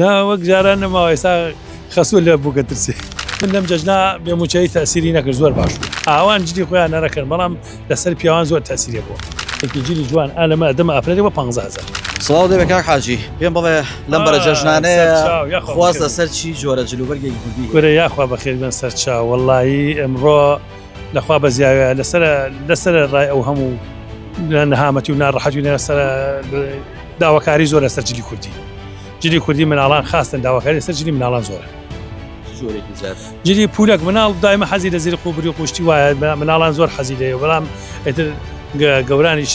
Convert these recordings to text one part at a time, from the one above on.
نا وەک جاران نەماوە ئێستا خەسوو لە بووکە ترسێ من لەم جەژنا بێ موچەی تەسیری نەکرد زۆر باش ئاوان جدی خۆیان نەرەکەن بەڵام لەسەر پیاوان زۆر تەسیرێ بووە جلی جوان ئالەمە دەمە ئەفرەێ بە 500 سڵاو دەبێت کاک حاجی پێم بڵێ لەم بەرە جەژنانەیە خواز لەسەر چی جۆرە جلوبەرگێکی کوردی گورە یاخوا بەخێر بن سەرچاو وەڵی ئەمڕۆ لەخوا بەزیاوێ لەسەر لەسەر ڕای ئەو هەموو نەهامەتی و ناڕەحەتی لەسەر داواکاری زۆر لەسەر جلی کوردی جلی کوردی مناڵان خاستن داواکاری سەر جلی مناڵان زۆرە جلی پولەک مناڵ دایمە حەزی لە زیری قوبری قوشتی وایە مناڵان زۆر حەزی لێ بەڵام ئەتر گەورانیش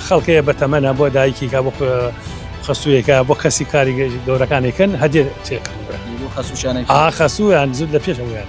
خەڵکەیە بەتەمەە بۆ دایکیکە بۆ خەسوویەکە بۆ کەسی کاری گەورەکانێکن هەدێ تێکڕ خەسوویان زود لە پێشەوەیان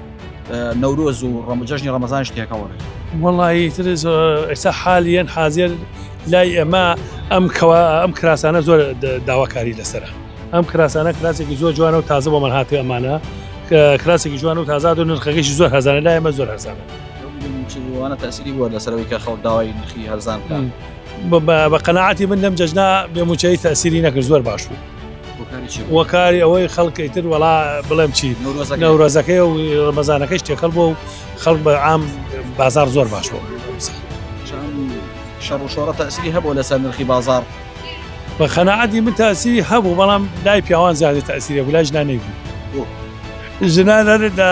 نەورۆز و ڕەمجەژنی ڕەمەزان شتێکەوەێ وڵی تر ئێستا حالیان حاضر لای ئەمە ئەم کەوا ئەم کراسانە زۆر داواکاری لەسرە ئەم کراسانە کراسێکی زۆر جوانە و تازە بۆ من هاتی ئەمانە کراسێکی جوان و تازاد و نرخەکەشی زۆر هەزانە لای ئەمە زۆر هەزانە وانە تاسیری بووە لەسەرەوەی کە خەڵ داوای نرخی هەرزان بە قەنەعاتی من لەم جەژنا بێموچەی تاسیری نەکرد زۆر باش بوو وەکاری ئەوەی خەڵکی تر وەڵا بڵێم چی نەورۆزەکەی و ڕمەزانەکەش تێکەڵ بۆ و خەڵک بە ئام بازار زۆر باش بۆ شەڕ و شۆڕە تاسیری هەبوو لەسەر نرخی بازار بە خەنەعادی من تاسیری هەبوو بەڵام لای پیاوان زیادە تاسیری بوو لای ژنانەی بوو ژنان هەردا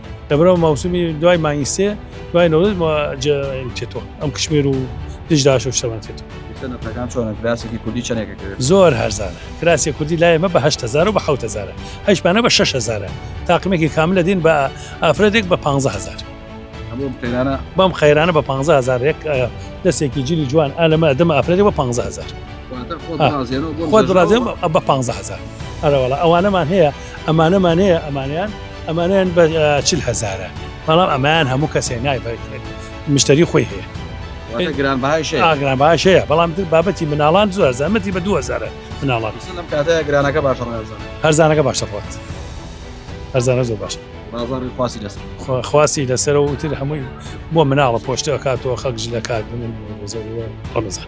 لەبەرەو مەوسمی دوای مانگی سێ دوای نەوەت چێتەوە ئەم کشمێر و دژداش و شەوان چێتەوە زۆر هەرزانە کراسی کوردی لای مە بەهزار و بەهزار هەشمانە بە 6هزار تاقمێکی کام لە دین بە ئافرەتێک بە 500هزار بەم خەیرانە بە 500هزار دەستێکی جلی جوان ئالەمە دەمە ئافرەتی بە 500هزار خۆ درازێن بە 500هزار ئەرەوەڵە ئەوانەمان هەیە ئەمانە مانەیە ئەمانیان ئەمانیان بە چل هزارە بەڵام ئەمایان هەموو کەسێ نای مشتری خۆی هەیە گران باگران باشەیە بەڵام بابەتی مناڵان زۆر زەمەتی بە 2000 مناڵان گرانەکە باش هەرزانەکە باشە خۆت هەرزانە زۆر باشە خواسی لەسەر و تر هەمووی بۆ مناڵە پۆشتەکاتەوە خەک ژلەکات بمن بۆ زۆر ڕەمەزان